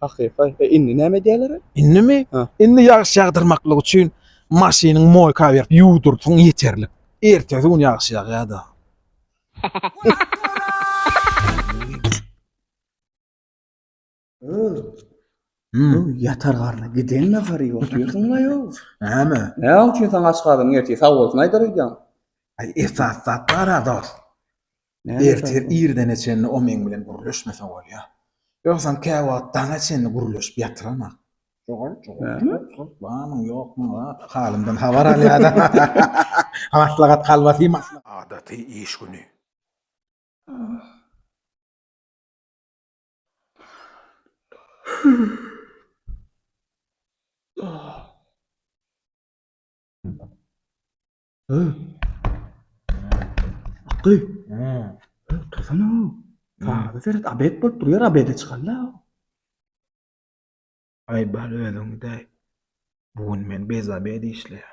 Hakyky. E indi näme edýäler? Indimi? Ha. Indi ýagyş ýagdyrmaklyk üçin maşynyň moýka berip ýuwdurdyň ýeterlik. Ertesi gün ýagyş ýagýar-da. Öl. Hmm. Bu ýatar garna giden nahary oturýarsyň la ýok. Näme? Ne üçin sen aç galyň erti sag bolsun aýdar öýdýän. Ay esas zat bara dost. Ertir irdene çenli o meň bilen gürleşmese bolýa. Ýogsam käwagt daňa çenli gürleşip ýatyramok. Şogal jogap barmy ýokmy zat halymdan habar alýada. Maslahat kalbasy maslahat. Adaty iş güni. Akgy. Tursana. Saada seret abet bolup durýar abede çykanda. Ay bal özüň de. Bu gün men bez abedi işleýär.